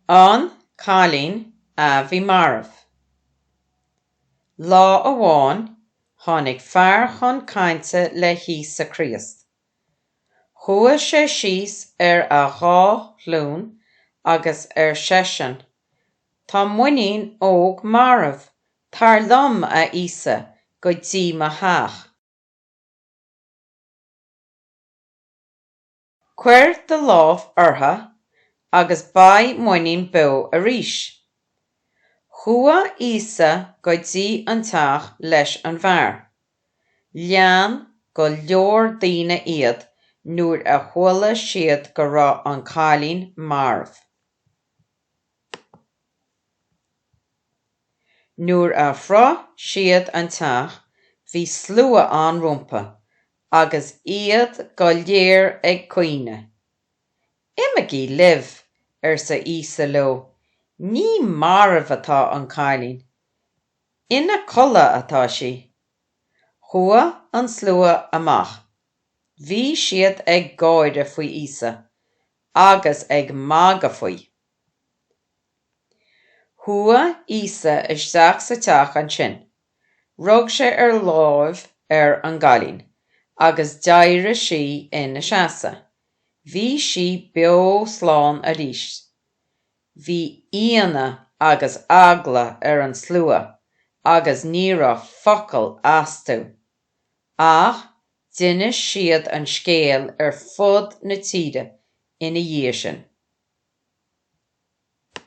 An cailín a bhí marbh. Lá amháin tháinig fear chun cainte le hÍosa Críost. Chuaidh sé síos ar a dhá ghlúin agus ar seisean, Tá m'iníon óg marbh, tar liom, a Íosa, go dtí mo theach. Cuir do lámh uirthi agus beidh m'iníon beo arís. Chuaidh Íosa go dtí an teach leis an bhfear. Lean go leor daoine iad nuair a chuala siad go raibh an cailín marbh. Nuair a shroich siad an teach bhí slua ann rompa Agus iad go léir ag caoineadh. Imigí libh, arsa Íosa leo, ní marbh atá an cailín, ina codladh atá sí. Chuaidh an slua amach. Bhí siad ag gáire faoi Íosa agus ag magadh faoi. Chuaidh Íosa isteach sa teach ansin Rug sé ar láimh ar an gcailín agus d'éirigh sí ina seasamh. Bhí sí beo slán arís. Bhí ionadh agus eagla ar an slua agus ní raibh focal astu. Ach d'inis siad an scéal ar fud na tíre ina dhiaidh sin.